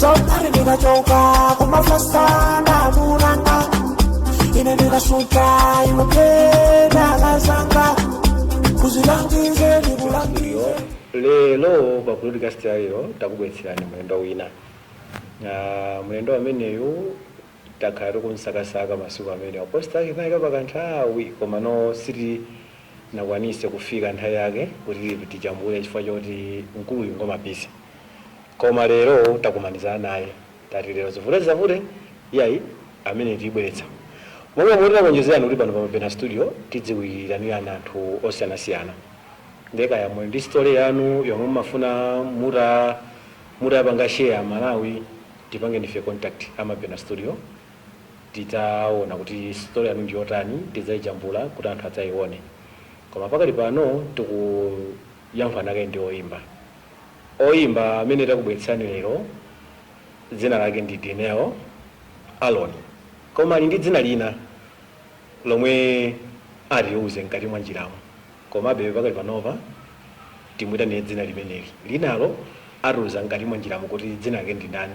Somebody nigga joker, come and fast on a munanga. In a nigga sutra, you a play na zanga. Kuzilangize ni bulangize. lero pa podcast ya lero takubweretserani mlendo wina Ah, mlendo ameneyu takhala tikumsakasaka masiku amene a poster yake tinaika pa kanthawi komano sitinakwanitse kufika nthawi yake kuti tijambule chifukwa choti mkuluyu ngwa ma busy Koma lero takumanizana naye tati lero zivute zisavute iyayi ameneyu tibweretsa monga momwe tinakulonjezerani kuti pano pa Mabena Studio tidzikuitanirani anthu osiyanasiyana nde kaya muli ndi story yanu yomwe mumafuna muta mutapanga share aMalawi tipangeni ife contact a Mabena Studio tidzaona kuti story yanu ndi yotani tidzayijambula kuti anthu adzayione koma pakali pano tiku Yankhulana naye ndi oyimba. Oyimba amene takubweretserani lero dzina lake ndi Dineo Aaron, koma ali ndi dzina lina lomwe atiuze mkati mwa njiramo komabe pakali panopa timuitanire dzina limeneli. Linalo atiuza mkati mwa njiramo kuti dzina lake ndi ndani.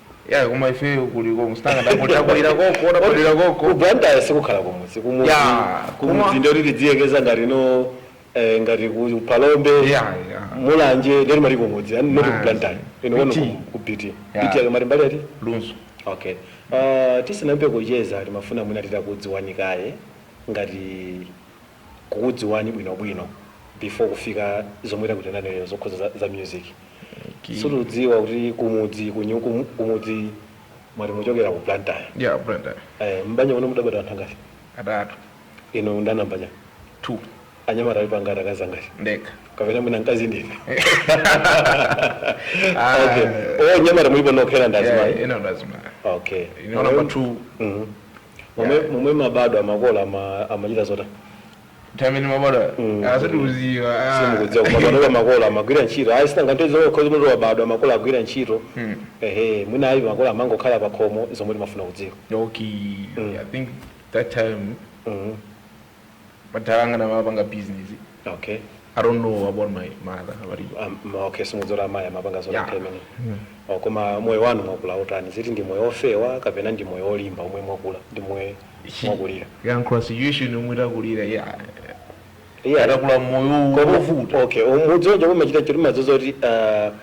Yeah koma ifeyo kuli konko mzanga ndakulira konko ndakulira konko ku Blantyre sikukhala kumudzi kumudzi Yeah, koma- kumudzi ndiyeno timayerekeza ngati ife eh, ngati ku Phalombe Yeah, yeah. Mulanje ndiye timati kumudzi and not ku Blantyre. Inu kwanu ndi BT. ku- ku BT Yeah. BT akamati mbali iti Lunzu okay uh, tisanayambe kucheza timafuna mwina titakudziwani kaye ngati kukudziwani bwino bwino before kufika zomwe takuitanirani zokhudza za, za music okay. so tadziwa kuti kumudzi kwanu kumu- kumudzi mwati mumachokera ku blantyre ya Blantyre eh, m'banja mwanu mudabadwa anthu angati atatu inu ndi a nambala two anyamata alipo angati akazi angati nde kapena mwina mkazi ndine Ah. okay. anyamata mulipo nokha ena ndi azimayi ena ndi azimayi okay inu number two Mhm. momwe momwe mumabadwa makolo ama- amachita zotani nthawi imene mumabadwa Mm. ah sindikudziwa simukudziwa koma panopa makolo amagwira ntchito ayi si nanga nthawi zina cause umati wabadwa makolo akugwira ntchito Mm. ehe mwina ayi makolo amangokhala pa khomo zomwe timafuna kudziwa okay Mm. i think that time Mhm. Madala anga amapanga business. Okay. I don't know about my mother. About you. Um, okay, simudziwa kuti mayi amapanga zotani Yeah. pamene. Mm. Oh, koma moyo wanu mwakula wotani? Kuti ndi moyo ofewa kapena ndi moyo olimba omwe mwakula ndi moyo mwakulira? Ya kukula situation yomwe takulira. Yeah. Yeah. Ah takula moyo Koma- wovuta. Okay, mukudziwa nje kumachita chiruma zozoti uh,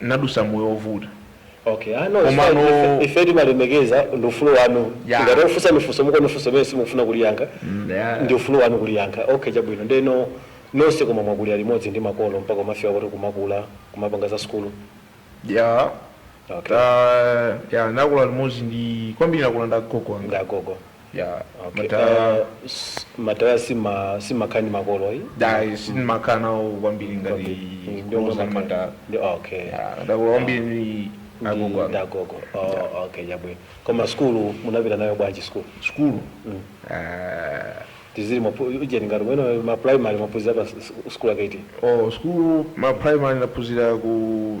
Ndadusa moyo ovuta Ok, ah no it's fine, ife, komano ife timalemekeza ndi ufulu wanu, Ya. ngati takufunsani funso mukuona ndi funso limene simukufuna kuliyankha, Mm, ya. ndi ufulu wanu kuliyankha, ok chabwino, ndeno nonse koma mwakulira limodzi ndi makolo mpaka kumafika kuti kumakula, kumapanga za sukulu, ya Okay. ta ya nakula limodzi ndi kwambiri nakula ndi agogo anga ndi agogo. ya okay. madala Eh, s- madala sima simakhala ndi makolo ayi ayi sindimakhala nawo kwambiri ngati Kwambiri. Ndio kuuza mama- madala Ndio, okay Ya, ndakula kwambiri ndi agogo anga. ndagogo oh, okay chabwino koma sukulu munapita nayo bwanji sukulu sukulu Ah, tidziti mapu- ujeni ngati mwina ma primary munaphunzira pa s- s- sukulu yakuti oh, sukulu ma primary ndaphunzira ku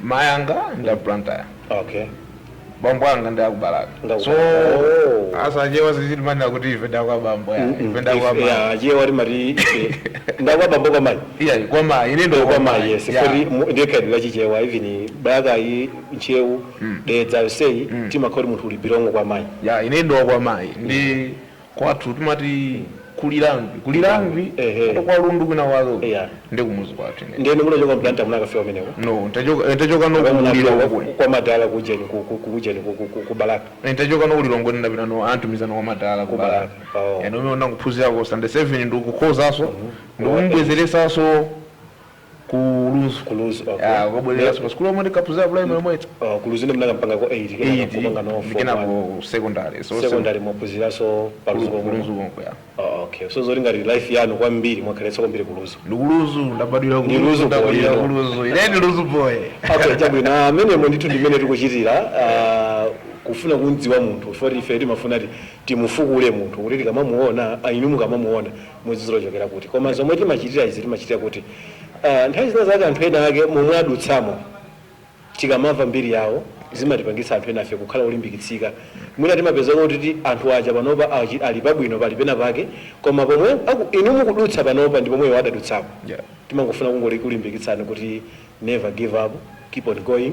Mai anga ndi a Blantyre. Okay. Bambo anga ndi aku Balaka. Ndi aku So Balaka. Oh. as achewa sikuti timanena kuti ife ndakwa bambo ya. Ife ndakwa mai. Yeah, Achewa timati ife. Ndakwa bambo kwa mai. Iya kwa mai. Ine ndo Ndakwa mai yes. Yeah. Kuti ndi khalidwe la chichewa even Balaka Ntcheu Dedza yonseyi timakhala kuti munthu you belong kwa mai. Ya ine ndi wa kwa mai. Ndi Kwathu timati ku Lirangwe ku Lirangwe Ehe. kuno kwa Lundu kwina kwake uko Yeah. nde kumuzi kwathu ine ndiyeno munachoka ku Blantyre munakafika kumeneko no ntachoka ntachoka no Kapena ku Lilongwe munapita uko kwa madala kujeni ku- ku- ku- kujeni ku- ku- ku- ku balaka ntachoka no ku Lilongwe ndapita no ananditumizano kwa madala Ku Balaka. Oh. komwe ndangophunzirako Standard 7 ndikukhozanso ndikundibwezeretsanso Ku Lunzu. Ku Lunzu, okay. Ya, kubwereranso pa sukulu yomwe ndinkaphunzira primary yomweyo. Oh, ku Lunzu ndiye munakapangako 8 kenako Eight, kupanga no ndi form one. kenako secondary. So, Secondary mwaphunziranso pa Lunzu Ku komweko. Lunzu konko, ya. Oh, okay. So zoti ngati life yanu kwambiri mwakhaletsa kwambiri ku Lunzu. Ndi ku Lunzu, ndabadwira ku Ndi Lunzu, Lunzu ndabadwira boy, ku you Lunzu. Ine ndi Lunzu boy. Okay, chabwino. Ah, Amenemo ndithu ndimene tikuchitira ah, kufuna kumdziwa munthu. Chifukwa ife timafuna kuti timufukule munthu kuti tikamamuona, ah, inu mukamamuona mudziti wachokera kuti koma zomwe timachitira izi timachitira kuti aah nthawi zina zake anthu ena ake momwe adutsamo tikamava mbiri yawo zimatipangitsa anthu enafe kukhala olimbikitsika mwina timapezeka kutiti anthu aja panopa achi- ali pabwino ali pena pake koma pomwe aku- inu mukudutsa panopa ndi pomwe iwo adadutsapo Yeah. timangofuna kungolikulimbikitsani kuti never give up keep on going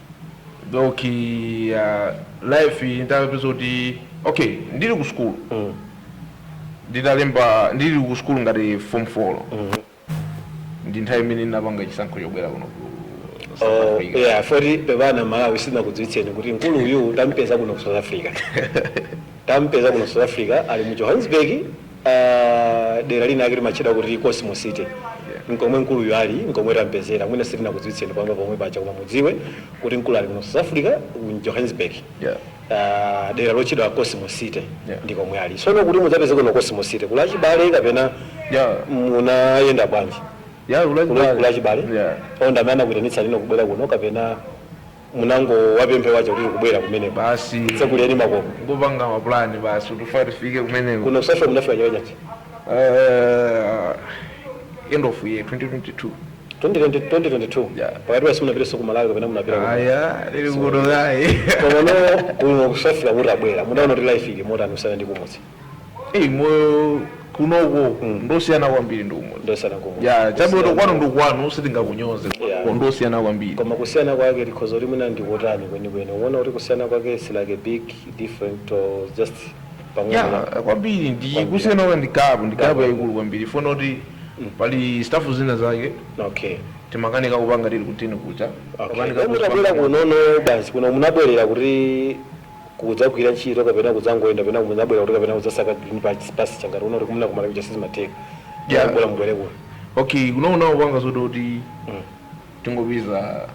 ok uh, life inapezeka kuti ok ndili ku sukulu mm. nditalemba ndili ku sukulu ngati form 4 mm. ndi nthawi imene ndinapanga chisankho chobwera kuno ku South Oh, Africa. yeah, foti pepana Malawi sindinakudziwitseni kuti mkulu uyu tampeza kuno ku south africa tampeza kuno ku south africa ali mu johannesburg Uh, dera linalake limatchedwa kuti Cosmo City yeah. Nkomwe mkuluyu ali nkomwe tampezera mwina sitinakudziwitseni pamba pomwe paja koma mudziwe kuti mkuluyu ali kuno South Africa mu Johannesburg yeah. Uh, dera lotchedwa Cosmo City yeah. ndi komwe ali sono kuti mudzapezeke kuno Cosmo City kuli achibale kapena yeah. munayenda bwanji yeah, kuli achibale yeah. ndi amene anakuitanitsa inu kubwera kuno kapena munangowapempha awaja kuti tikubwera kumeneko Basi. tsekuleni makomo Kupanga mapulani basi kuti tifike kumeneko. kuno ku South Africa munafika chaka chati Uh, end of year 2022. 2020 2022 Yeah. pakatipa simunapitenso ku Malawi kapena munapita ku- Ayi, ndili kuno kaye. komano kuno ku South Africa mutabwera mudaona kuti life ili motani kusiyana ndi kumudzi Hey, moyo kunoko ndosiyana kwambiri ndi umo ndosiyana kumudzi ya chabwino kwanu ndi kwanu sitingakunyoze Yeah. yeah. ndosiyana kwambiri koma kusiyana kwake ndikufunsa kuti mwina ndikotani kwenikweni mukuona kuti kusiyana kwake is like a big different or just pang'ono ya kwambiri ndi Kwambiri. kusiyana kwake ndi gapu ndi gapu Gapu. yayikulu kwambiri kunena kuti pali stafu zina zake okay timakanika kupanga tili kuujeni kuja okay Timakanika Koma mutabwera kupanga- kunono basi kuno munabwerera kuti kudzagwira ntchito kapena kudzangoyenda kapena munabwera kuti kapena kudzasaka green patch pasture ngati kuno mwina ku Malawi kuja sizimatheka yeah. yeah. bola mubwere kuno okay kuno kuno kupanga zoti kuti mm. tingopeza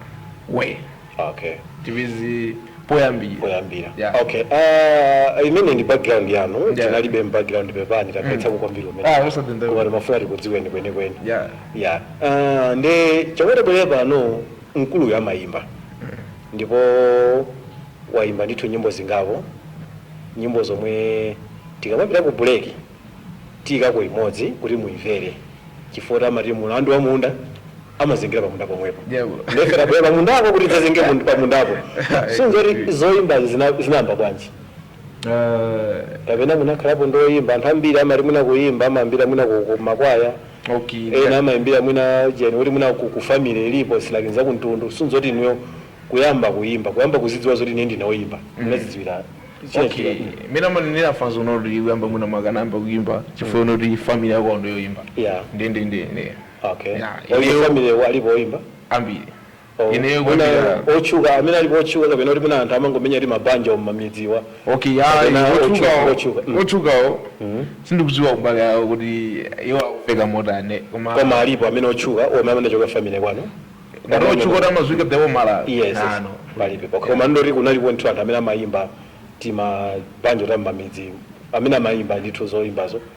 way okay tipeze poyambira poyambira yeah. okay uh, imene ndi background yanu yeah. tinalibe background pepani takhalitsa mm. kukambirana zimenezo ah, koma timafuna tikudziweni kwenikweni yeah. yeah. uh, nde chomwe tabwerera pano Mkuluyu amayimba ndipo wayimba ndithu nyimbo zingapo, nyimbo zomwe tikamapita ku break tiyikako imodzi kuti muyimvere chifukwa choti amati mulandu wa munda amazengera pa munda pomwepo nde ife tabwera pa mundapo kuti tidzazenge mun- pa mundapo si zoti zoyimbazi zina- zinayamba bwanji kapena munakhalapo ndoyimba anthu ambiri amati mwina kuyimba amayambira mwina ku ku makwaya Okay, ena ngat. amaimbira mwina gene yoti mwina ku ku family ilipo its like nzakumtundu si zoti inuyo kuyamba kuyimba kuyamba kuzidziwa zoti ine ndine oyimba munazidziwira chani okay tikapita mene amanenera funso kunena kuti kuyamba mwina munayamba kuyimba chifukwa kunena kuti family yakwanu ndi yoyimba Yeah. ndendende ine okay Yeah, ayi ineyo- family wa- alipo oyimba ambiri Oh, Ineyo mwina kwambiri. otchuka amene alipo otchuka kapena kuti mwina anthu amangomenya timabanjo m'mamidzimu okay ya Kapena otchuka otchukawo otchuka mm. otchukawo sindikudziwa kumbali yawo kuti iwo akufika motani koma koma alipo amene otchuka omwe anachoka family kwanu ngati otchuka kuti amadziwika the whole Malawi yes yes. no no palibe pokha koma ndoti kunalipo ndithu anthu amene amayimba timabanjo ta mmamidzi amene amayimba ndithu zoyimbazo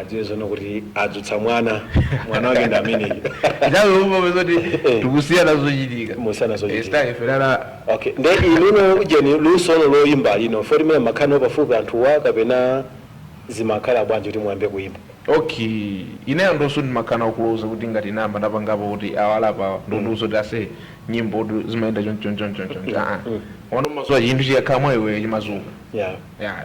adziwe zono kuti adzutsa mwana mwana wake ndi ameneyo nthawi yomwe zoti tikusiyana zochitika Mukusiyana zochitika. Sitaki ife tala okay nde inu no ujeni luso loyimbali no foti mene mmakhala nawo pafupi anthuwa kapena zimakhala bwanji kuti muyambe kuyimba okay ine anthu onse ndimakhala nawo kuloza kuti ngati ndayamba ndapangapo kuti awa apa ndondiuza kuti ase nyimbotu zimayenda choncho choncho choncho aa wanomasowa chinthu chikakhala mwa iwe chimadzuka yeah ya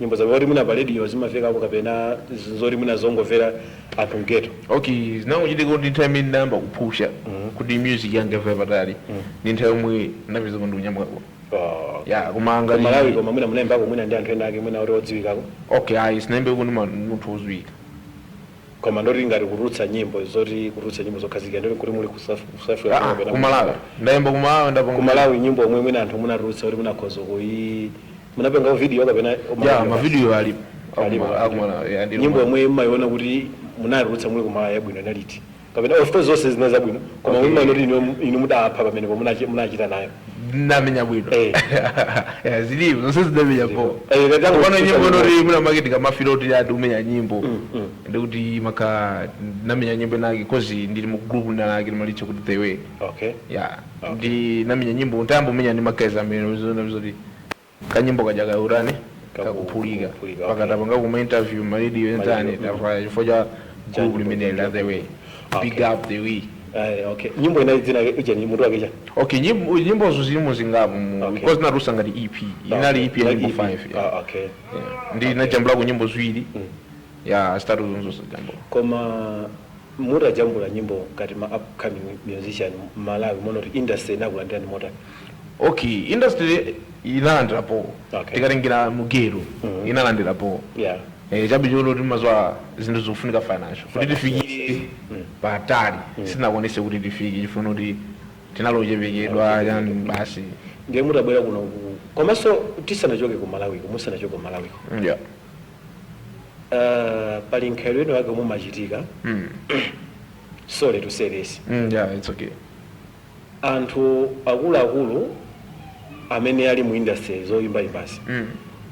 nyimbo zake zoti mwina pa radio zimamvekapo kapena z- zoti mwina zongomvera anthu mgeto okay zinangochitika kuti nthawi imene ndayamba kupusha kuti music yanga ifike patali ndi nthawi yomwe napeza kuti ndikunyamukako Oh. ya koma ngati malawi koma mwina munaimbako mwina ndi anthu ena ake mwina oti odziwikako okay ayi sinaimbeko ndi ma- munthu wodziwika koma ndoti ngati kutulutsa nyimbo zoti kutulutsa nyimbo zokhazikika ndoti kuti muli ku South Africa Ah, ah, kumalawi ndaimba kumalawi ndapanga kumalawi nyimbo omwe mwina anthu munatulutsa kuti munakhoza kuyi munapanga video kapena ya mavidiyo ali akuma- akuma- ya, ndilo nyimbo ma- yomwe mmayiona kuti munayitulutsa muli kumalawi yabwino inali iti kapena of course zonse zina zabwino koma Okay. mmayiona kuti inu- inu mudapha pamene po munachi- munachita nayo ndamenya bwino Eh. Ya, zilipo zonse zidamenya po Eh, kati angu- pano nyimbo inoti mwina mwake ndikamafila kuti ati umenya nyimbo mm. ndikuti maka ndinamenya nyimbo inake cause ndili mu group linalake timalitcha kuti the way okay ya ndinamenya nyimbo ntayamba umenya ndi ma guys amene zoti kanyimbo kaja kautani kakuphulika Kakuphulika, okay. mpaka tapangako ma interview maradio enzani tafaya chifukwa cha gulu nyimbo limeneli la the way big Okay. up the way Eh, okay nyimbo inali dzina lake ujeni mutu wake chani okay nyimbo- nyimbozo zilimo zingapo mu- Okay. because natulutsa ngati ep inali ep ya nyimbo 5 Ah, okay ndinajambulako nyimbo ziwiri ya zitatuzo nzosajambula koma mutajambula nyimbo ngati ma upcoming musician malawi muona kuti industry inakulandirani motani okay industry inalandirapo Okay. tikatengera mugeto Mhm. inalandirapo yeah Eh, chabe chongoti mmadziwa zinthu zikufunika financial kuti tifikire patali sitinakwanise kuti tifike chifukwa choti tinali ochepekedwa yani basi ndiye mutabwera kuno ku- komanso tisanachoke ku malawiko musanachoke ku malawiko yeah. Uh, pali mkhalidwe wina wake omwe umachitika Mm. sorry to say this Mm, yeah, it's okay. anthu akuluakulu amene ali mu industry zoyimbayimbazi Mm.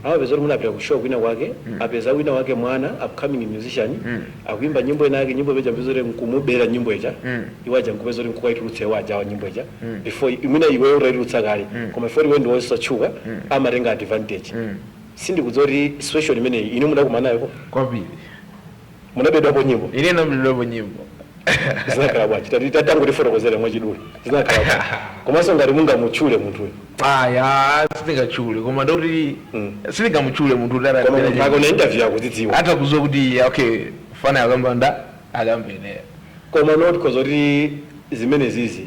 amapeza kuti munapita ku show kwina kwake apeza wina wake mwana upcoming musician Mm. akuimba nyimbo ina yake nyimbo imene ija mpeza kuti nkumubera nyimbo ija Mm. iwo aja nkupeza kuti nkukaitulutsa iwo aja wa nyimbo ija Mm. before imene iwe utaitulutsa kale Mm. koma ifoti iwe ndiwe osatchuka amatenga advantage Mm. Sindikudziwa kuti situation imeneyi inu mudakumana nayo ko? Kwambiri. Munabedwapo nyimbo? Ine ndinabedwapo nyimbo. Zinakhala bwanji? Tatangotifotokozera mwachidule. Zinakhala bwanji? Komanso ngati mungamutchule munthuyo. Ayi, ah, sindingatchule koma ndoti Mm. sindingamutchule munthu kuti Koma atabera munthu akaona interview akudzidziwa. atakudziwa kuti okay fana akamba ndakamba ine Koma not cause kuti zimenezizi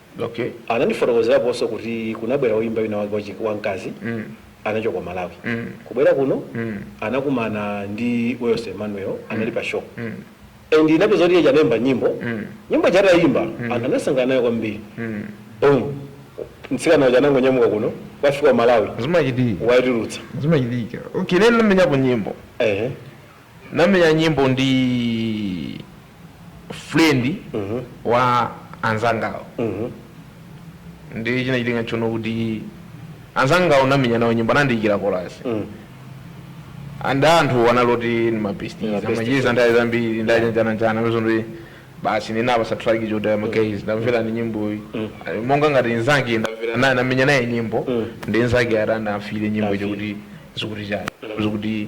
Okay. Anandifotokozeraponso kuti kunabwera oyimba wina wake wachi, wamkazi anachoka ku Malawi. Kubwera kuno anakumana ndi Wales Emmanuel anali pa show. And unapeza kuti iyeja anayimba nyimbo. Nyimbo ija atayimba anthu anasangalala nayo kwambiri. Boom. Mtsikana uja anangonyamuka kuno wafika ku Malawi Zimachitika. waitulutsa. Zimachitika. Okay, ine ndinamenyapo nyimbo. Ehe. Ndinamenya nyimbo ndi friend wa anzangawo ndi chinachitika nchono kuti anzangawo ndamenya nawo nyimbo anandiyikira kolasi and anthu anali oti ndi Ndi mabesties mabesti. Amacheza nthawi zambiri ndajanjananjana mezo ndi basi ndinawapatsa track choti magays tamverani nyimboyi monga ngati nzake ndamvera naye ndamenya naye nyimbo ndi nzake atanda afire nyimbo Afire. chokuti zikuti chani zikuti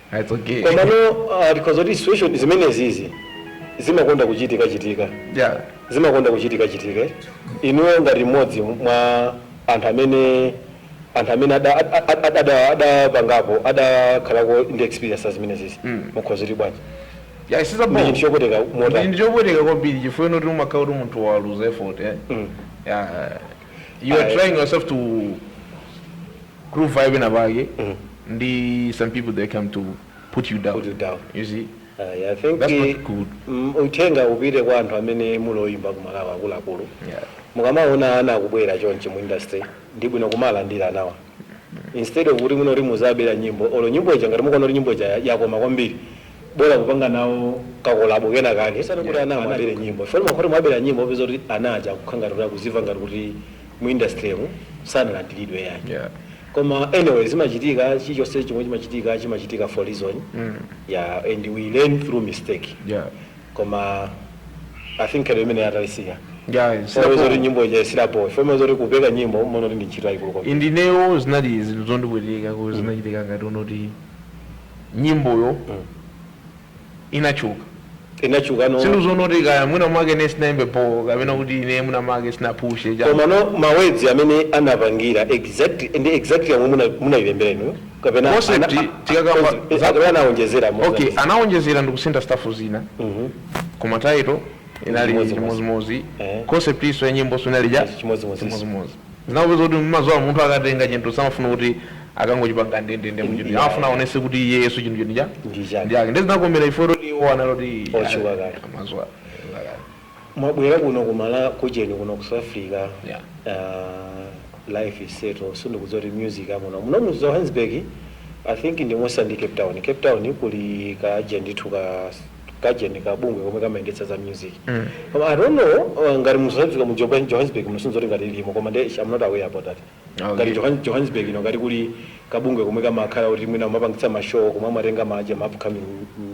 Komano tikhoza kuti situation zimenezizi zimakonda kuchitika chitika zimakonda kuchitika chitika inuyo ngati mmodzi mwa anthu amene anthu amene ada ada adapangapo adakhalako ndi experience ya zimenezizi mukhoza kuti bwanji Yeah, it's a Ndi bomb. chinthu chopweteka Ndi motani chinthu chopweteka kwambiri chifukwa unoti umakhala kuti munthu waluza effort eh? yeah. you are Aye. trying yourself to groove vibe pena pake ndi some people they come to put you down, Put you down. you see Ayi, I think That's eh, not good. mm, uthenga upite kwa anthu amene muli oyimba ku Malawi akuluakulu Yeah. mukamaona ana akubwera chonchi mu industry ndi bwino kumalandira anawa instead of kuti munoti muzabera nyimbo olo nyimbo ija ngati mukuona kuti nyimbo ija ya- yakoma kwambiri bora kupanga nawo kakolabo kena kake kusiyana kuti ana amabere nyimbo foni makhoti mwabera nyimbo upeza kuti ana aja akukhala ngati kuti akuziva ngati kuti mu industrymu sanalandilidwe yayi yeah. koma anyway zimachitika chilichonse chomwe chimachitika chimachitika for reason mm. yeah, and we learn through mistake yeah. koma I think njira imene atalisiya Yeah, sinapo- somezoti nyimbo ija isilapo somezoti kupeka nyimbo mona kuti ndi ntchito yayikulu kwambiri. indinewo zinali zinthu zondipweteka kuti zinachitika ngati unoti nyimboyo inatchuka. Inatchuka no. Sindikuziwa unoti kaya mwina mwake ine sinaimbe bho kapena kuti ine mwina mwake sinaphushe chani. Komano ma words amene anapangira exactly ndi exactly yomwe muna munailembera inu kapena Concept, ana- a- tikakamba concept, za- kapena anaonjezera mo. Okay, anaonjezera ndikusintha stuff zina. Mhm. Koma title inali Chimodzimodzi. chimozimozi. Eh. Concept yakeso ya nyimboso inali ya Chimodzimodzi. chimozimozi. Zinapezeka kuti umadziwa munthu akatenga chintu samafuna kuti akangochipanga ndendende muchinthu Yeah. amafuna aonetse kuti iyeyu chinthu chinthu cha Ndi chake. ndi ake ndiye zinakomera ife kuti iwo anali kuti Otchuka kale. amadziwa kale. mwabwera kuno kumala kucheni kuno ku south africa Yeah. uh, life is settled sindikudziwa kuti music amuno muno mu johannesburg i think ndimwenso ndi cape town cape town kuli ka agent ithu ka kajeni ka bungwe komwe kamayendetsa za music koma i don't know uh, ngati mu south africa mu Joburg- johannesburg muno sindidziwa ngati kalimo koma nde i'm not aware about that Okay. ngati Johan- johannesburg ino ngati kuli kabungwe komwe kamakhala kuti mwina kamapangitsa mashow komwe amatenga maje ma upcoming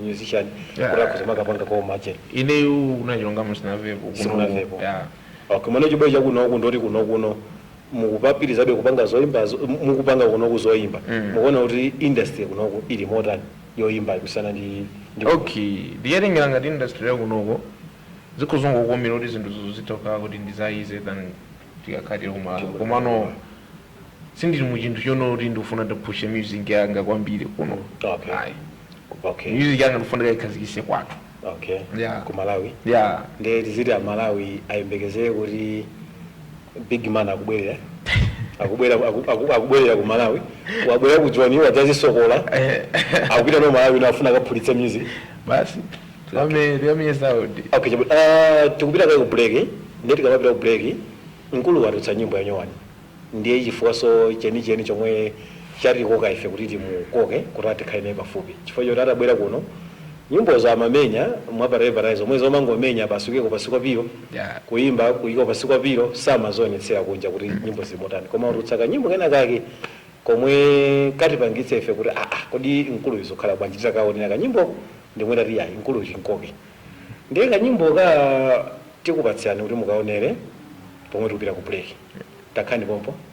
musician Yeah. kuti akhoza kukapanga kwa maje ineyu unachonga musinavepo Simunavepo. okay mwina chibwere chakunoku ndoti kunokuno mukupitirizabe kupanga zoyimba zo- mu- mukupanga kunoku zoyimba Mm. mukuona kuti industry kunoku ili motani yoyimbayi kusiyana ndi ndi ok ndikatengera ngati industry yakunoko zikhoza kungokomera kuti zinthu zizo zitha kukhala kuti ndi za easy than tikakhala tili kumalawi komano sindili mu chinthu chonena kuti ndikufuna ndipushe music yanga kwambiri kuno Okay. ayi okay music yanga ndikufuna ndikayikhazikitse kwathu okay Yeah. ku malawi ya nde tiziti amalawi ayembekezere kuti Big man akubwerera akubwera aku- aku- akubwerera ku malawi wabwera ku joni wadzadzisokola akupita ku malawi ndipo afuna akaphulitse music basi tiwame- tiwamiyesa kuti okay chabu- ah, tikupita kaye ku break ndiye tikamapita ku break mkulu watulutsa nyimbo yanyowani ndiye chifukwanso chenicheni chomwe chatikoka ife kuti timukoke kuti tikhale naye pafupi chifukwa choti atabwera kuno Nyimbozo amamenya mwa pa reverie zomwe zomangomenya basi kuyika pansi kwa pilo Yeah. kuyimba kuyika pansi kwa pilo samazionetsera kunja kuti nyimbo zili motani koma watulutsa kanyimbo kenakake komwe katipangitsa ife kuti aah kodi mkuluyu zikukhala bwanji titakawonera kanyimboko ndi pomwe tati yayi mkuluyu timkoke ndiye kanyimboka tikupatsirani kuti mukawonere pomwe tikupita ku break takhalani pompo.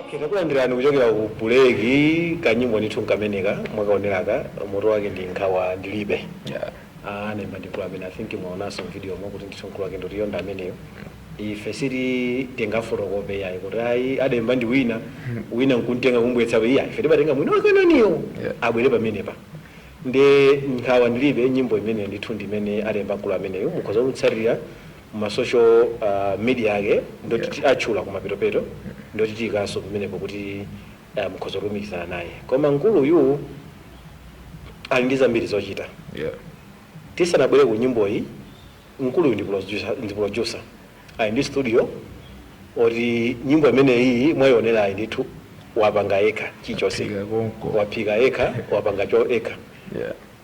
Okay, takulandirani kuchokera ku buleki kanyimbo ndithu nkameneka mwakaoneraka moto wake ndi nkhawa ndilibe Yeah. Ah, ademba ndi amene i think mwaonanso mvidiyo mwa kuti ndithu mkulu wake ndi wotani ameneyo ife sikuti tingafotokoze yayi kuti ayi ademba ndi wina wina nkumtenga kumbweretsa iyayi ife timatenga mwini wake nkhaniyo Yeah. abwere pamenepa nde nkhawa ndilibe nyimbo imene ndithu ndimene ademba mkulu ameneyo mukhoza kumtsatira ma social media ake ndoti tiatchula kumapetopeto ndoti tiikanso pamenepo kuti mukhoza kulumikizana naye koma mkuluyu ali ndi zambiri zochita Yeah. tisanabwere ku nyimboyi mkuluyu ndi producer- ndi producer ali ndi studio oti nyimbo imeneyi mwayionerayi ndithu wapanga yekha chilichonse Waphika konko. waphika yekha wapanga chani yekha Yeah.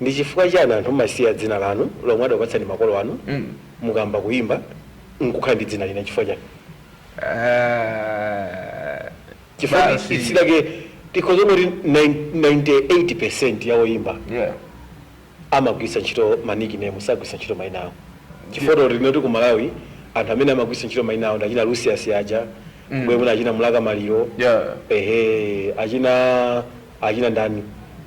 Ndi chifukwa chani anthu mumasiya dzina lanu lomwe adapatsani makolo anu mukayamba kuimba nkukhala ndi dzina lina chifukwa chani? Aaah Chifukwa ti- basi. dzina lake tikhoza kunena kuti nai- 98% ya oimba Yeah. amagwiritsa ntchito ma nickname sagwiritsa ntchito maina awo chifukwa toti tinene kuti ku malawi anthu amene amagwiritsa ntchito maina awo ndi achina lucius aja mbwe mwina achina mlaka maliro Yeah. ehe achina achina ndani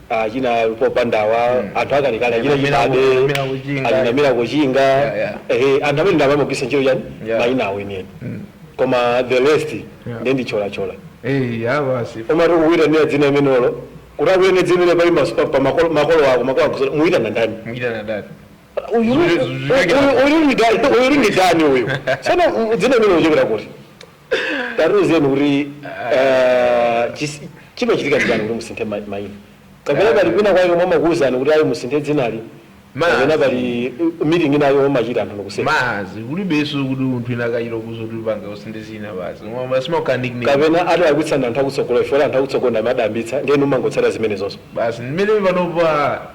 achina popandawa anthu akalekale achina Namira ku- chibabe namira kuchinga. achina mira kuchinga Yeah, yeah. ehe anthu amene ndi amene amagwiritsa ntchito chani Yeah. mayina awo enieni koma the rest Yeah. ndi ndicholachola Eh, ya basi. amati kuitanira dzina limenelo kuti akuitane dzina limene pali mas- pa- pa makolo makolo ako makolo akuzo muitana ndani Mwita na dada. Uyu- Zure- zure- uyu- uyu ndi ndani- uyu ndi ndani uyu sono dzina limene ikuchokera kuti tatiuzeni kuti ah, chis- chimachitika nchiyani kuti musinthe ma- mayina kapena pali kwina kwake komwe amakuwuzani kuti ayi musinthe dzinali Mazi. kapena pali uh, meeting inayake yomwe mumachita anthu nokuseka mazi kulibeso kuti munthu inakayira kuzoti upange usinthe dzina basi Mwa- simauka nickname kapena adalakwitsa ndi anthu akutsogolo ife oti anthu akutsogolo ndi amene adayambitsa ndiye inu mumangotsata zimenezonso basi mmene panopa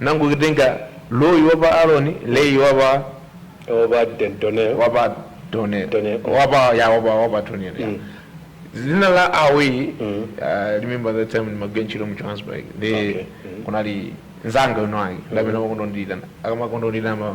Nangolitenga loyi wa pa Aaroni, Lehi wa pa. wa pa Donel. wa pa Donel. Donel, mm. wa pa ya wa pa wa pa Donel. ya. Dzina la away uh, remember that time in Magenchiro mu Johannesburg. The Okay. kunali nzanga. Amene amakonda kundiitana. Amakonda kundiitana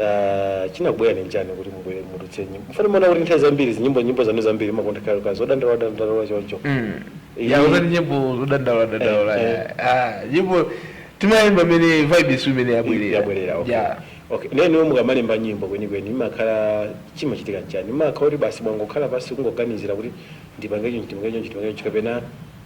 Ah, chinakubwera ni nchani kuti mubwere mutulutse nyimbo mofana mona kuti nthawi zambiri zinyimbo nyimbo zanu zambiri mumakonda kale zodandaula dandaula choncho Mm. Iyi- ya uzani nyimbo zodandaula dandaula Eh, eh. ya. Ah, nyimbo timayimba mmene vibe isu imene yabwerera yabwerera okay. Ya. okay ndiye mukamalemba nyimbo kwenikweni imakhala chimachitika nchani imakhala kuti basi mwangokhala pansi kungoganizira kuti ndipange chonchi ndipange chonchi ndipange chonchi kapena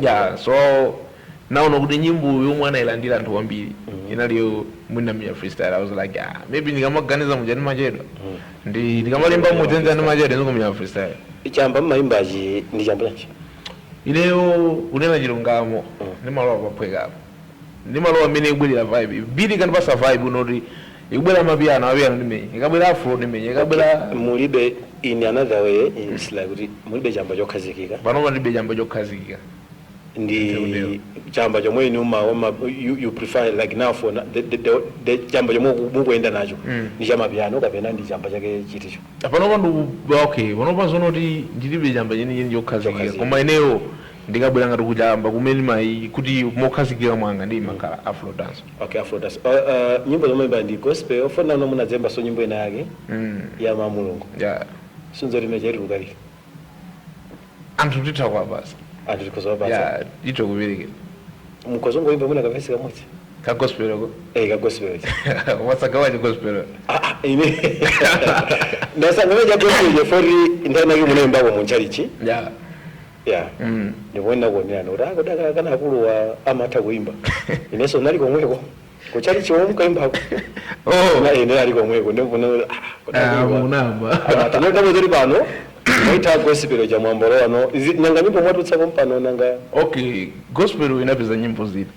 Yeah, so naona kuti nyimbo yomwe anailandira anthu kwambiri inali yomwe ndinamenya freestyle i was like ah, maybe ndikamaganiza muja ndimachedwa ndi ndikamalemba muja ndimachedwa ndikumenya freestyle chamba mumayimbachi ndi chamba chanji ineyo kunena chilungamo ndimalowa paphwekapo ndimalowa mmene yabwerera vibe beat ikandipatsa vibe yonoti Ikabwera amapiano, amapiano ndimenye. Ikabwera afro ndimenye. Ikabwera. Okay, mulibe in another way it's like kuti mulibe chamba chokhazikika. Panopa ndilibe chamba chokhazikika. ndi chamba chomwe inu ma ma you, you prefer like now for na- the, the, the, the chamba chomwe muku- mukuyenda nacho ndi chamapiano kapena ndi chamba chake chiticho Panopa ndi okay, panopa zoona kuti ndilibe chamba chenicheni chokhazikika. Chokhazikika. Koma ineyo Ndikabwera ngati kuchamba kumene mwati kuti mokhazikika mwanga ndimakhala afro dance. Okay afro dance uh uh nyimbo zomwe mba ndi gospel ofunano munadzayimbaso nyimbo ina yake mm. ya Mulungu yeah. sunzo limene chaitu kukali anthu titha kwa basa anthu tikhoza kwa basa yeah mutokubereka mukhoza kungoyimba mwina kavesi kamodzi ka gospel ko eh ka gospel what's gawa ni gospel ah ah ine ndasanga meja gospel je poti ndinali mwe mmayimba mu chalichi yeah Yeah. Mm. Ndipo ndinakuonererani kuti ah, kodi ak- kani akuluwa amatha kuimba. Inenso ndinali komweko. Kuchalichi komwe munkaimbako. Oh. Nane ndinali komweko ndipo na ah, kodi Ah, akuluwa. munamba. Amati nyo ndabo zili pano. Mumaita gospel cha mwambolo ano. Izi nanga nyimbo mwatulutsa pompano nanga. Okay, gospel inapeza nyimbo ziti?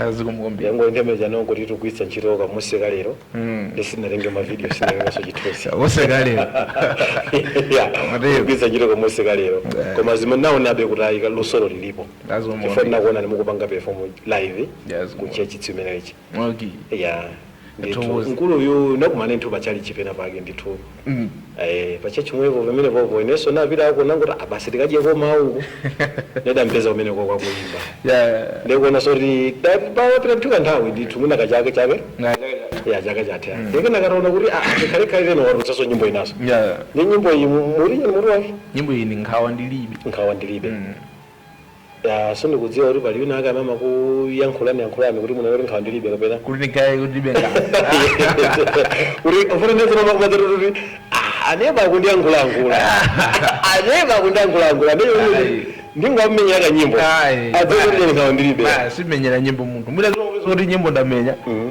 Ah, zikomo kwambiri zangondithamangitsa n'zongoti tikugwiritsa ntchito ka masiku ano ndiye sindinatenge mavidiyo sindinatengenso chithunzi wose kalero Mateo. kugwiritsa ntchito kamusi kalero koma zimene ndinaonabe kuti ayi luso ilo lilipo That's one more chifukwa thing. ndinakuona ndi mukupanga perform live Yes, ku more. church chimenechi okay ya ndithu Tiwuze. mkuluyu tinakumana ndithu pa chalichi pena pake ndithu eh, pa church pomwepo pamenepo inenso ndinapitako ndinangoti ah basi tikadyeko mawu nde ndampeza kumeneko akuyimba Yeah. ndikuona soti papita ndithu ka nthawi ndithu mwina kachake chake Na- ya chaka chatha ndiye nditaona kuti ah, tikhalekhale lero watulutsaso nyimbo inaso Yeah. ndi nyimbo iyi mutu wake nyimbo iyi ndi nkhawa ndilibe nkhawa ndilibe Yaa so ndikudziwa kuti pali wina ake amene amakuyankhulani yankhulani kuti munene kuti nkhawa ndilibe kapena kuti ndinkaye kuti ndilibe nkhawa kuti ufuna ndiye zimama kumadzati kuti "Ah, aneba akundiyankhulayankhula aneba akundiyankhulayankhula amene Ayi. ndingomenya kanyimbo Ayi. adziwe kuti ine nkhawa ndilibe Ba, sindimenyera nyimbo munthu mwina zomwe kuti nyimbo ndamenya Mhm.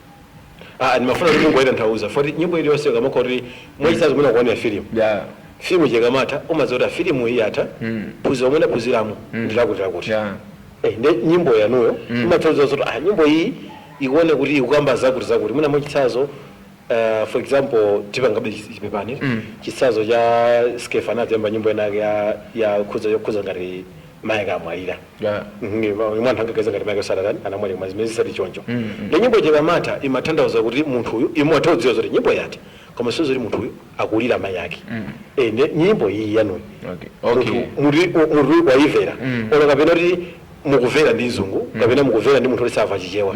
Ah, ndimafuna kuti mungoyitanthauza poti nyimbo iliyonse ukamakhala kuti mwachitsanzo mwina kuonera filimu yeah filimu ija ikamatha umadziwa kuti filimu iyi yatha phunziro lomwe ndaphunziramo ndilakuti lakuti yeah Eh, nde nyimbo yanuyo imatanthauza zoti ah, nyimbo iyi ikuoneka kuti ikukamba zakuti zakuti mwina mwachitsanzo Uh, for example tipangebe chipepani chitsanzo cha Skeffa anadzayimba nyimbo inayake ya ya khudza yokhuza ngati mayake anamwalira Yeah. Mhm, ma- mwina anthu angaganize ngati mayake adatani anamwalira koma zimenezo si choncho ndi nyimbo ija ikamatha imatanthauza kuti munthuyu imwe ataudziwa zoti nyimbo yati koma si zoti munthuyu akulira mayi ake Eh, nde nyimbo iyi yanuyi Okay. Okay. munthu wayivera olo kapena kuti akuvera ndi mzungu kapena akuvera ndi munthu oti sava chichewa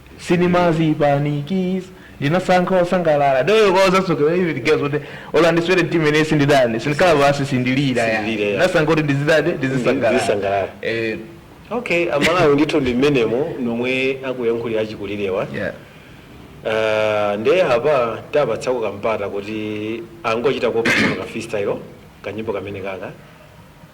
Sindimazipanikiza ndinasankha kusangalala ndi yokuuzaso even guys kuti olo andiswere mtima ine sinditani sindikhala pansi sindilira ya Sindilira, ya. ndinasankha kuti ndizitani ndizisangalala Ndizisangalala. eh okay amalawi ndithu ndi mmenemo momwe akuyankhulira achikulirewa yeah Ah, nde apa tiwapatsako kampata kuti angotichitako pano ka freestyle kanyimbo kamene kaka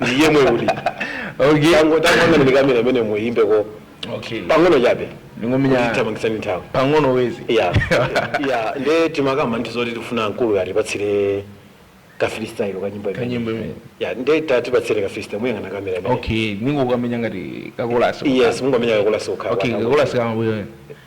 ndi yemwe uli okay tango tango amene ndi kamera imene muyimbe ko okay pang'ono chabe ndingomenya tathamangitsana ndi nthawi pang'ono wezi ya ya nde timakamba ndithu zoti tifuna mkulu atipatsire ka freestyle ka nyimbo imene kanyimbo imene ya nde tatipatsire ka freestyle muyang'ana kamera imene okay ndingokamenya ngati kakolasi yes mungomenya kakolasi ukhala okay kakolasi kamabwino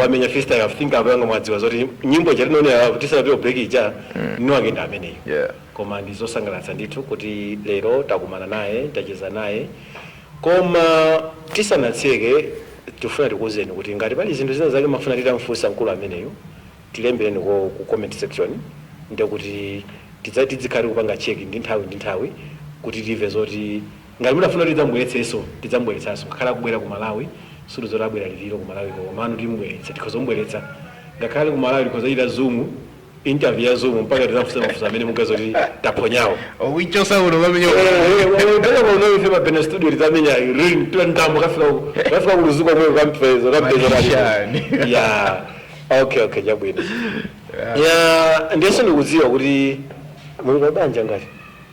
wamenya freestyle I think abwanawa mwadziwa zoti nyimbo ija tinaonera kuti sanapita break ija mm. mwiniwake ndi ameneyo yeah. koma ndi zosangalatsa ndithu kuti lero takumana naye tacheza naye koma tisanatseke tifuna tikuwuzeni kuti ngati pali zinthu zina zake mumafuna titamfunsa mkulu ameneyo tilembereniko ku comment section ndekuti tidzati dzikhale kupanga check ndi nthawi ndi nthawi kuti timve zoti Ngati mutafuna kuti tidzamubweretsenso tidzamubweretsanso ngakhale akubwera ku Malawi sikuti zoti abwera lero lero ku Malawi ko komano timubweretsa tikhoza kumubweretsa ngakhale ku Malawi tikhoza kuchita zoom interview ya zoom mpaka tizafunse mafunso amene mukudziwa kuti taphonyawo Ukuichosa uno mami nyo. Pena kwa unawe fema pena studio litamenya ring tuwa ndambo kafika uko kafika kuluzuka mwe kampezo kampezo Magician. kali ya okay okay jabwino ya ndiyeso ndikudziwa kuti muli mabanja ngati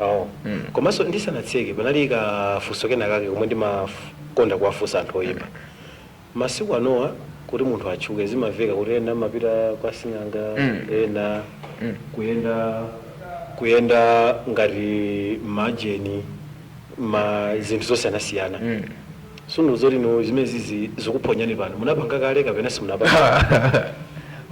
Oh. Komanso ndisanatseke panali ka funso kena kake komwe ndimakonda kuwafunsa anthu oyimba. Masiku anowa kuti munthu atchuke zimamveka kuti ena amapita kwa sing'anga, ena kuyenda kuyenda ngati majini ma zinthu zosiyanasiyana. Sundikuuza kuti no zimenezi zi zikukuphonyani pano munapanga kale kapena simunapanga.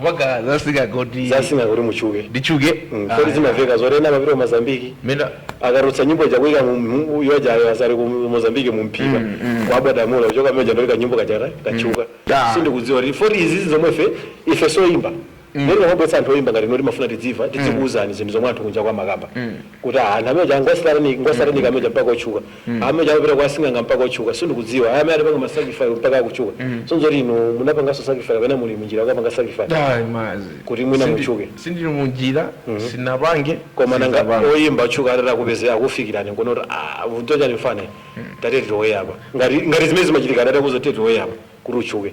Mpaka zasinga kuti. Zasinga kuti mutchuke. Nditchuke. Mm. Kodi zimamveka zoti ena amapita ku Mozambique. Mena. Akatulutsa nyimbo ija kuika mu mu yoja ayo azati ku Mozambique mu mphika. Mm, mm. Kwa bwada mula kuchoka mmene ndolika nyimbo katchala katchuka. Mm. Sundikudziwa kuti mwaizi zomwe fe ife soimba. Nde ndikamabweretsa anthu oyimba ngati inuyo timafuna tidzimva tidzikuuzani zinthu zomwe anthu kunjaku amakamba kuti aah anthu amenewa ngosatanic ngosatanic amenewa mpaka otchuka aah amenewa amapita kwa asing'anga mpaka otchuka sindikudziwa aah amene adapanga ma sacrifice mpaka kutchuka sindidziwa kuti inu munapanganso sacrifice kapena muli munjira yokapanga sacrifice Ayi mazi. kuti mwina Sindi- mutchuke Sindili munjira, sinapange, koma nanga sizapanga. oyimba otchuka atati akupeze akufikireni nkuona kuti aah vuto chani mfana tatete tiwoye apa ngati ngati zimene zimachitika atati akuuze tatete tiwoye apa kuti utchuke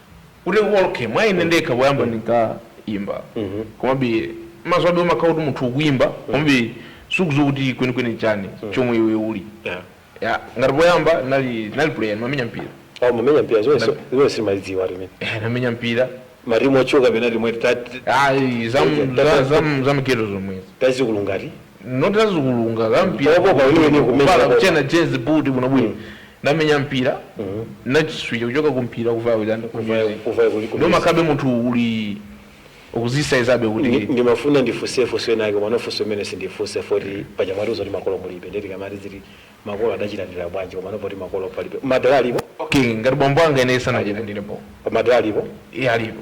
kuti okay mwa ine ndekha poyamba ndinkaimba komabe mwazobe umakhala kuti munthu ukuimba komabe sukudziwa kuti kwenikweni nchani chomwe iwe uli Yeah. Ya, ngati poyamba ndinali ndinali player ndimamenya mpira Aa mumamenya mpira zonse zonse simmalidziwa limene. Eh, ndamenya mpira Marimu otchuka pena limwe tati ayi zam- za- zam- zamghetto zomwezi tazikulunga eti. tazikulunga Polopo pamene kumenya zampira polopo. kutchena jezi buti bwinobwino Namenya mpira nachiswija kuchoka ku mpira kuvaye kuti and ku Kuvaye- music kuvaye kuti ku ndomakhabe munthu uli ukuzisaizabe kuti Ndi- ndimafuna ndifunse funso lina lake komano funso limene sindifunsa poti paja mwatiuza kuti makolo mulibe nde tikamati tiziti makolo adachilandira bwanji komano poti makolo palibe madala alipo okay ngati bambo anga ine sanachilandirepo madala alipo iye alipo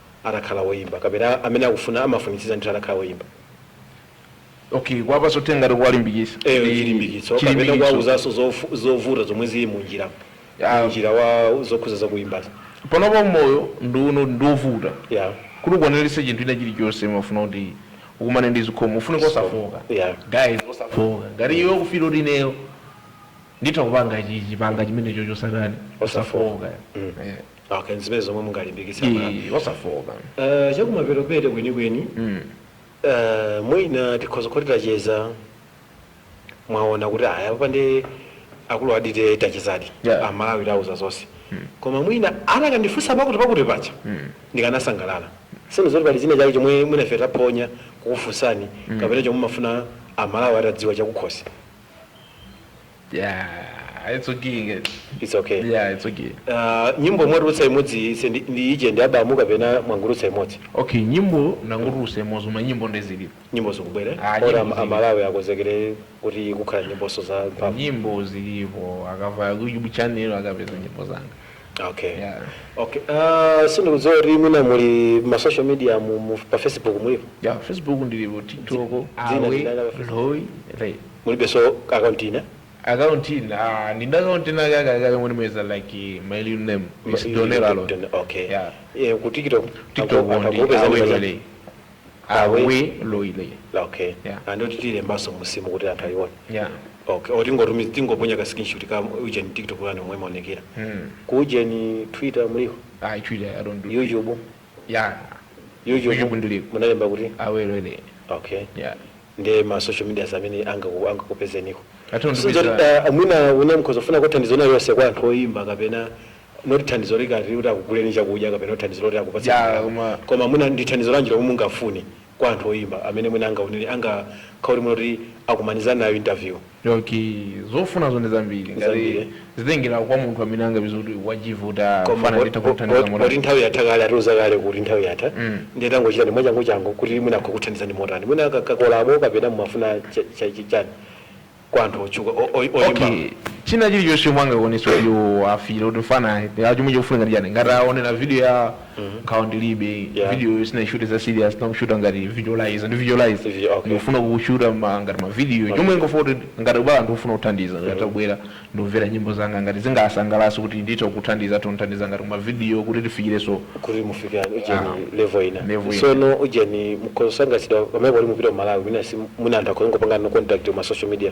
atakhala woyimba kapena amene akufuna amafunitsitsa ndithu atakhala woyimba. Okay, kuwapatsa uthenga ngati kuwalimbikisa eyo ndi chilimbikitso kapena chilimbikitso. kuwauzaso zofu- zovuta zomwe zili munjira Ah. munjira wa zokhuza zakuyimbazo Panopa moyo ndi uno ndi wovuta yeah. kuti ukwanilitse chinthu china chilichonse umafuna kuti ukumane ndi zikhomo zofunika osafooka Yeah. guys osafooka ngati iwe ukufila kuti ineyo nditha kupanga chichi, panga chimenecho chosatani Osafooka. osafooka Yeah. okay nzimene zomwe mungalimbikitse Eh, aMalawi osafooka Eh, chakumapeto peto kwenikweni Mm. Eh, mwina tikhoza kuti tacheza mwaona kuti ayi apa nde akulu aja tache tachezadi Yeah. aMalawi tawauza zonse koma mwina anakandifunsa pakutipakuti paja ndikanasangalala sindikudziwa kuti pali china chake chomwe mwina ife taphonya kukufunsani kapena chomwe mumafuna aMalawi atadziwa chakukhosi Yeah, it's okay guys. It's okay. Yeah, it's okay. Uh, nyimbo mwatulutsa imodzi ija ndi, ndi ija ndi abamu kapena mwangotulutsa imodzi Okay, nyimbo ndangotulutsa imodzi koma nyimbo nde zilipo. nyimbo zikubwera Ah, ora nyimbo am- zili. aMalawi akonzekere kuti kukhala nyimbozo za mphamvu Nyimbo zilipo akavaya ku YouTube channel akapeza nyimbo zanga. okay Yeah. okay uh, sindikudziwa kuti mwina muli ma social media mu, mu, pa facebook mulipo Yeah, Facebook ndilipo TikTok, dzina awe, ndinalava Facebook. loy, right. Mulibeso ka account ina? Account ina ah ndili ndi account ina kale kale kale moti mwina eeh like my real name is Donelo Alon Okay yeah eh ku TikTok TikTok anthu ndi akupeza ndi manja Aweloile Awe Aweloile okay yeah and oti tilembaso munsimu kuti anthu ayione yeah okay oti ngotumiza tingoponya ka screenshot ka ujeni TikTok yanu momwe imaonekera mm ku ujeni Twitter muliko Twitter I don't do YouTube yeah YouTube YouTube ndiliko munalemba kuti Aweloile okay yeah nde ma social medias amene angakupezeniko. Katundu sizoti biza. da mwina mwina mukhoza kufuna thandizo lina lonse kwa anthu oyimba kapena not thandizo likati kuti akuguleni chakudya kapena kuti thandizo loti akupatsa Yeah, ndalama. koma- koma mwina ndi thandizo lanji lomwe mungafune kwa anthu oyimba amene mwina angaonere angakhale kuti mwina akumana nayo interview Okay zofunazo ndi zambiri ngati Zambiri. zitengera kwa munthu amene angapeze kuti wachiview koma fana nditha kumthandiza poti motani nthawi yatha kale atiuza kale kuti nthawi yatha ndiye tangochitani mwachangu changu kuti mwina akuthandizani motani mwina kakolabo kapena mumafuna cha- cha- cha- chani kwa anthu otchuka o- o- oyimba okay china chilichonse chomwe angakwanise kuti afile kuti mfana chomwe chikufunika ndi chani ngati aonera video ya nkhawa ndilibe Yeah. video sindinashute za serious ndinashuta ngati visualize ndi visualize Vi- okay. ndikufuna kushuta ma- ngati ma video chomwe ndiye kuti ngati pali anthu akufuna kuthandiza ngati atabwera ndikumvera nyimbo zanga ngati zingawasangalatse kuti nditha kuthandiza atondithandiza ngati ma video kuti tifikirenso kuti mufika ujeni level ina Level ina. sono ujeni mukosangasiddwa pamene pali mupita mu malawi mina si muna anthu akhoza kupanga nanu contact ma social media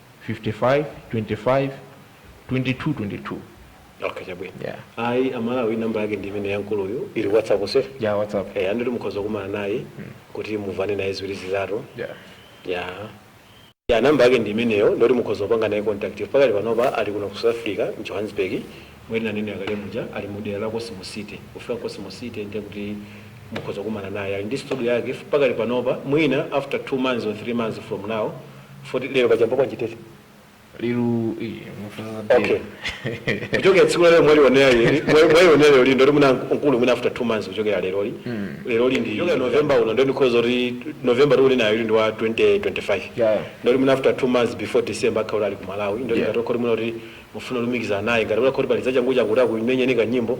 5525 2222 Okay, chabwino. Yeah. Ayi amalawi namba yake ndi imene yankuluyo ili pa WhatsApp nso. ya whatsapp Eh, ndithu mukhoza kukumana naye kuti mumvane naye ziwiri zitatu. ya Ya. Ya namba yake ndi imeneyo yoti mukhoza kupanga naye contact. Pakali panopa ali kuno ku South Africa, mu Johannesburg. Mmene ananenera kale muja ali mu dera la Cosmo City. Kufika ku Cosmo City ndiye kuti mukhoza kukumana naye. Ali ndi studio yake pakali panopa mwina after 2 months or 3 months from now Foti lero pachamba bwanji tete. Liru iyi mufuza Okay. dera. Kuchokera tsiku lero mwali onera lero. Mwali onera lero ndo muna nkulu mwina after 2 months kuchokera leroli. Leroli ndi kuchokera November uno ndo because woti November tili nayeyu ndi wa 2025. Yeah. Ndiye mwina after 2 months before December akhala ali ku Malawi. Ndo Yeah. ngati kuti mwina oti mufuna kulumikizana naye ngati kuti pali zachangu changu kuti akumenyeni kanyimbo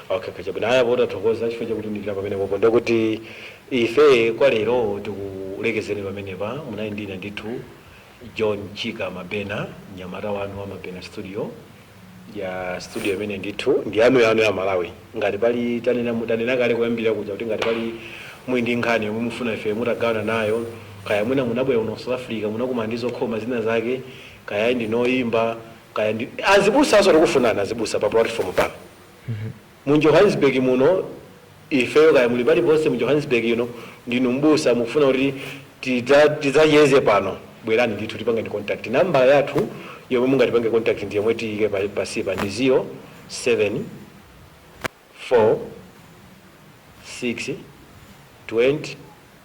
Okay okay chabwino ayi apo tathokoza chifukwa chakutiunikira pamenepopo ndiye kuti ife kwa lero tilekezere pamenepa munali ndi ine ndithu John Chika Mabena mnyamata wanu wa Mabena Studio ya studio imene ndithu ndi yanu yanu ya Amalawi ngati pali tanena m'tanena kale kuyambira kuja kuti ngati pali muli ndi nkhani yomwe mufuna ife mutagawana nayo kaya mwina munabwera kuno ku South Africa munakumana ndi zokhoma zina zake kaya ndinu oyimba kaya ndinu azibusa nawonso tikufunanso azibusa pa platform pano Mu Johannesburg muno, ifeyo, kaya muli paliponse mu Johannesburg ino, ndinu m'busa, mukufuna kuti tidza, tidzacheze pano, bwerani ndithu, tipangeni contact. Namba yathu yomwe mungatipange contact ndi yomwe tiyike pa, pansipa ndi 0 7 4 6 20